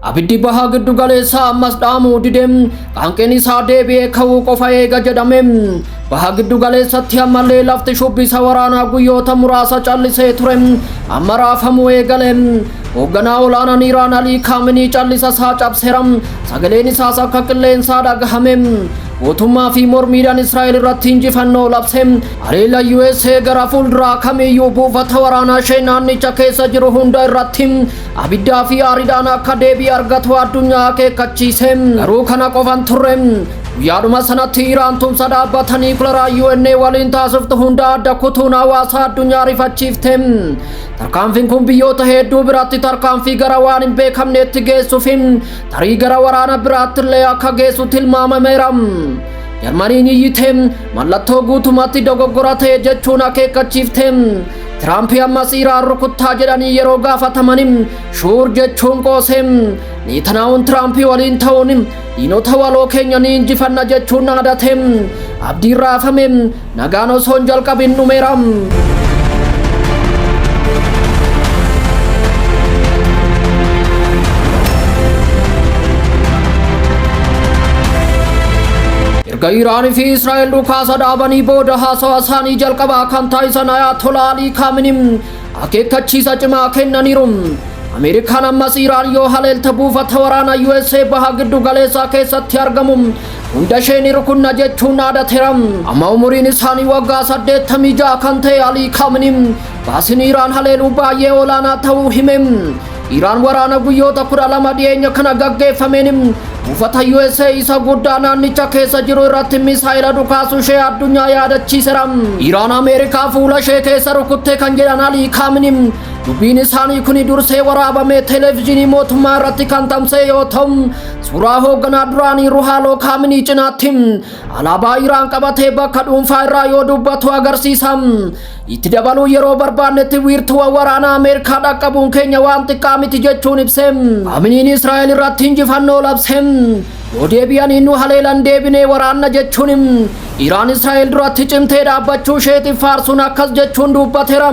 Abiddi bahaa giddu galeessaa ammas dhaamuu dide qaanqeen isaa deebi'ee ka'uu qofa eega jedhame. Baha giddu galeessatti ammallee lafti shubbisa waraanaa guyyoota muraasa callisee ture amma raafamuu eegale. Hoogganaa olaanaan Iraan Alii Kaaminii callisa isaa cabseera. Sagaleen isaas akka qilleensaa dhagahame. Guutummaa fi mormiidhaan Israa'el irratti injifannoo labse. Haleella USA gara fuulduraa kamiyyuu buufata waraanaa ishee naannicha keessa jiru hunda irratti abiddaa fi aariidhaan akka deebii argatu addunyaa akeekkachiise. Garuu kana qofa hin turre. Guyyaadhuma sanatti Iraan tumsa dhaabbata niikularaa UNA waliin taasiftu hunda adda kutuun hawaasa addunyaa rifachiifte. Tarkaanfiin kun biyyoota hedduu biratti tarkaanfii gara waan hin beekamneetti geessuuf tarii gara waraana biraattillee akka geessu tilmaamameera. Jarmaniin iyyite mallattoo guutumatti dogoggora ta'e jechuun akeekkachiifte. Tiraampi ammas Iraan rukuttaa jedhanii yeroo gaafatamaniin shuur jechuun qoose. Neetanaa'uun Tiraampi waliin ta'uun diinota waloo keenya ni injifanna jechuun dhaadate. Abdiin raafame Nagaan osoo hin jalqabin dhumeera. Erga Iraan fi Israa'el dhukaasa dhaabanii booda haasawa isaanii jalqabaa kan taasisan Ayatolaa Alii Kaaminiin akeekkachiisa cimaa kennaniiru. Ameerikaan ammas Iraan yoo haleelte buufata waraanaa USA baha giddu galeessaa keessatti argamu Hunda ishee ni rukunna jechuun dhaadateera. Amma umuriin isaanii waggaa 86 kan ta'e Alii Kaamini baasiin Iraan haleeluu baay'ee olaanaa ta'uu hime. Iraan waraana guyyoota 12 dhiyeenya kana gaggeeffameen buufata USA isa guddaa naannicha keessa jiru irratti misaa'ela dhukaasuu ishee addunyaa yaadachiisera. Iraan Ameerikaa fuula ishee keessa rukutte kan jedhan Alii Kaamini dubbiin isaanii kun dursee waraabamee televezyiinii mootummaa irratti kan tamsa'e yoo ta'u Suuraa hoogganaa duraanii Ruhaaloo Kaaminii cinaatti alaabaa Iraan qabatee bakka dhuunfaa irraa yoo dubbatu agarsiisa. Itti dabaluun yeroo barbaannetti wiirtuuwwan waraanaa Ameerikaa dhaqqabuun keenya waan xiqqaa miti jechuun ibse. Kaaminiin Israa'el irratti injifannoo labse. Yoo deebi'anii nu haleelan deebinee waraanna jechuun Iraan Israa'el duratti cimtee dhaabbachuu isheetiif faarsuun akkas jechuun dubbateera.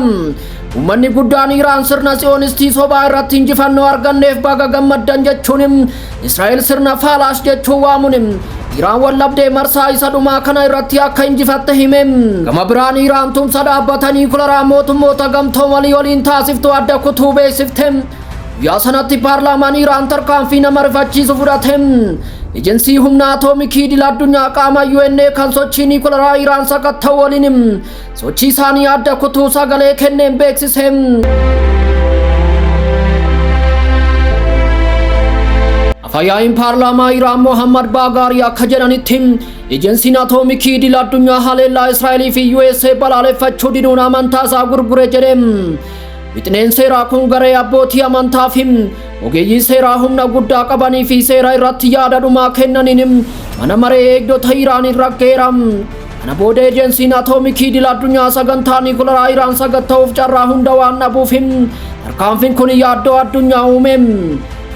Uummanni guddaan Iraan sirna Tsiyoonistii sobaa irratti injifannoo arganneef baga gammaddan jechuun Israa'el sirna Faalaas jechuun waamuun Iraan wallabdee marsaa isa dhumaa kana irratti akka injifatte hime. Gama biraan Iraan tumsa dhaabbata niikularaa mootummoota gamtoomanii waliin taasiftu adda kutuu beeksifte. Guyyaa sanatti paarlaamaan Iraan tarkaanfii nama rifachiisu fudhate. Ejensii humna atoomikii idil addunyaa qaama UNA kan sochii niikularaa Iraan sakatta'u waliin sochii isaanii adda kutuu sagalee kenneen beeksise. Afayaa'iin paarlaamaa Iraan Mohammad Baagaarii akka jedhanitti ejensiin atoomikii idil addunyaa haleellaa Israa'elii fi USA balaaleffachuu diduun amantaa isaa gurgure jedhe. Wixineen seeraa kun garee abbootii amantaa fi ogeeyyii seeraa humna guddaa qabanii fi seera irratti yaada dhumaa kennaniin mana maree eegdota Iraaniin raggaa'eera. Kana booda ejensiin atoomikii idil addunyaa sagantaa niikularaa Iraan sakatta'uuf carraa hunda waan dhabuuf tarkaanfiin kun yaaddoo addunyaa uume.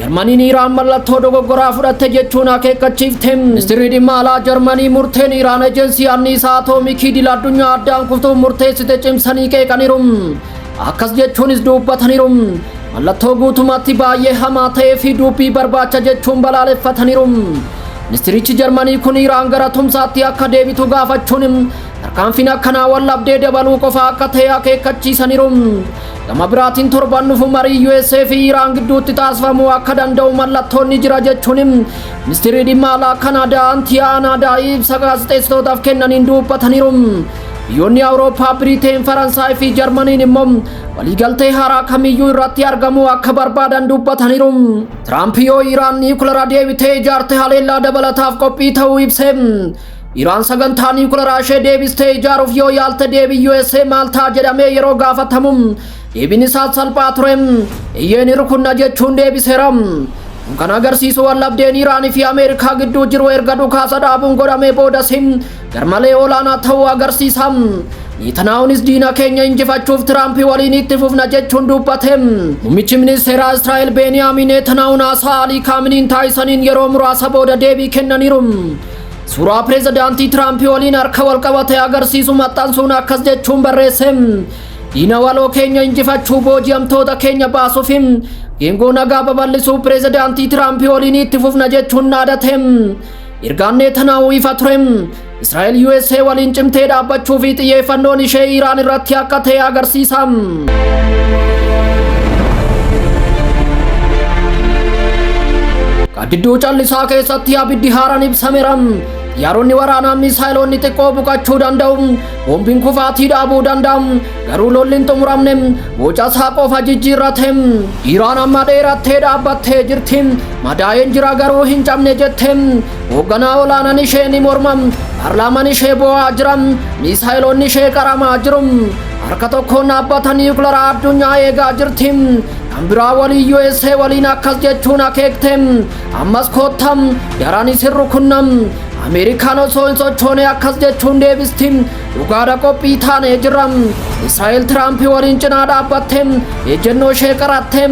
Jarmaniin Iraan mallattoo dogoggoraa fudhatte jechuun akeekkachiifte. Ministirri dhimma alaa Jarmanii murteen Iraan ejensii anniisaa atoomikii idil addunyaa addaan kuftuuf murteessite cimsanii qeeqaniiru. Akkas jechuunis dubbataniiru. Mallattoo guutummaatti baay'ee hamaa ta'ee fi dubbii barbaacha jechuun balaaleffataniiru. Ministirichi Jarmanii kun Iraan gara tumsaatti akka deebitu gaafachuun tarkaanfiin akkanaa waldhabdee dabaluu qofa akka ta'e akeekkachiisaniiru. Gama biraatiin torban dhufu marii USA fi Iraan gidduutti taasifamuu akka danda'u mallattoon ni jira jechuun ministirri dhimma alaa Kanaadaa Antiyaa Anaadaa ibsa gaazexeessitootaaf kennaniin dubbataniiru. Biyyoonni Awurooppaa Biriteen, Faransaay fi Jarmaniin immoo waliigaltee haaraa kamiyyuu irratti argamuu akka barbaadan dubbataniiru. Tiraamp yoo Iraan niikulara deebitee ijaarte haleellaa dabalataaf qophii ta'uu ibse. Iraan sagantaa niikularaa ishee deebistee ijaaruuf yoo yaalte deebii USA maal ta'a jedhamee yeroo gaafatamu deebiin isaas salphaa ture. Eeyyee ni rukunna jechuun deebiseera. Kun kan agarsiisu waldhabdeen Iraan fi Ameerikaa gidduu jiru erga dhukaasa dhaabuun godhamee boodas garmalee olaanaa ta'uu agarsiisa. Neetanaa'uunis diina keenya injifachuuf Tiraampi waliin itti fufna jechuun dubbate. Muummichi ministeeraa Israa'el Beeniyaamiin Neetanaa'uun haasaa Alii Kaaminiin taasisaniin yeroo muraasa booda deebii kennaniiru. Suuraa pireezidaantii Tiraampi waliin harka wal qabate agarsiisu maxxansuun akkas jechuun barreesse. Diina waloo keenya injifachuu booji'amtoota keenya baasuuf geengoo nagaa babal'isuu pireezidaantii Tiraampi waliin itti fufna jechuun dhaadate. Ergaan Neetanaahuu ifa ture. Israa'el USA waliin cimtee dhaabbachuu fi xiyyeeffannoon ishee Iraan irratti akka ta'e agarsiisa. Gaaddiduu callisaa keessatti abiddi haaraan ibsameera. Xiyyaaronni waraanaa miisaayiloonni xiqqoo buqachuu danda'u. Boombiin kufaatii dhaabuu danda'a. Garuu lolli hin xumuramne. Boca isaa qofa jijjiirrate. Iraan amma dheerattee dhaabbattee jirti. Madaa'een jira garuu hin cabne jette. Hoogganaa olaanaan ishee ni morma. Paarlaamaan ishee boo'aa jira. Miisaayiloonni ishee qaramaa jiru. Harka tokkoon dhaabbata niwukilaraa addunyaa eegaa jirti. Kan biraa walii USA waliin akkas jechuun akeekte. Ammas koottam daraan isin rukunnam. Ameerikaan osoo hin sochoone akkas jechuun deebisti. Dhugaadha qophii taanee jirra. Israa'el Tiraamp waliin cinaa dhaabbatte. Ejjennoo ishee qaratte.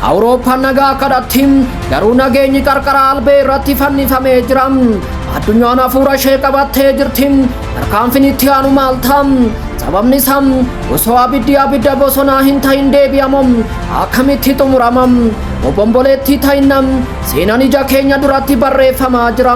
Awurooppaan nagaa kadhatti. Garuu nageenyi qarqara albee irratti fannifamee jira. Addunyaan hafuura ishee qabattee jirti. Tarkaanfiin itti aanu maal ta'a? Sababni isaa osoo abiddi abidda bosonaa hin ta'in deebi'amu akkamitti xumurama? Obomboleettii ta'innam Seenaan ija keenya duratti barreeffamaa jira.